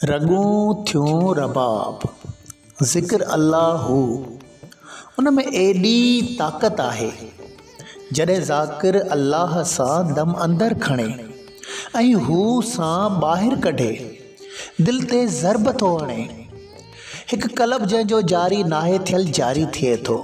رڳون ٿيون رباب، ذڪر الله هو، ان ۾ ايڏي طاقت آهي، جڏهن ذاڪر الله سان دم اندر کڻي ۽ هو سان ٻاهر ڪڍي، دل تي ضرب ٿو هڻي، هڪ قلب جنهن جو جاري ناهي ٿيل جاري ٿئي ٿو.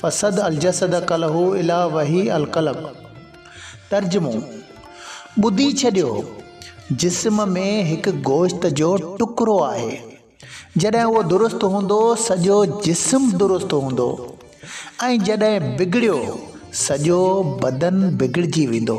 فسد الجسد کله الي وحي القلب. ترجمو، ٻڌي ڇڏيو، جسم ۾ هڪ گوشت جو ٽڪرو آهي، جڏهن اهو درست هوندو، سڄو جسم درست هوندو ۽ جڏهن بگڙيو، سڄو بدن بگڙجي ويندو.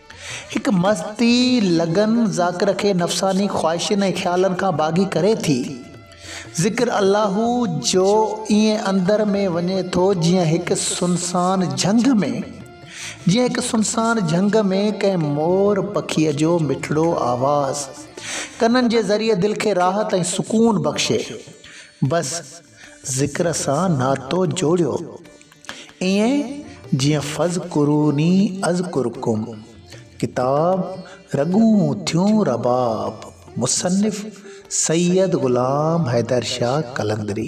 هڪ مستي لگن ذاڪر کي نفساني خواهشين ۽ خيالن کان باغي ڪري ٿي. ذڪر الله جو ائين اندر ۾ وڃي ٿو جيئن هڪ سنسان جهنگ ۾. جيئن هڪ سنسان جهنگ ۾ ڪنهن مور پکيء جو مٺڙو آواز ڪنن جي ذريعي دل کي راحت ۽ سڪون بخشي. بس ذڪر سان ناتو جوڙيو. ائين جيئن فاذڪروني اذڪرڪم ڪتاب رڳون ٿيون رباب مصنف سيد غلام حيدر شاھ قلندري.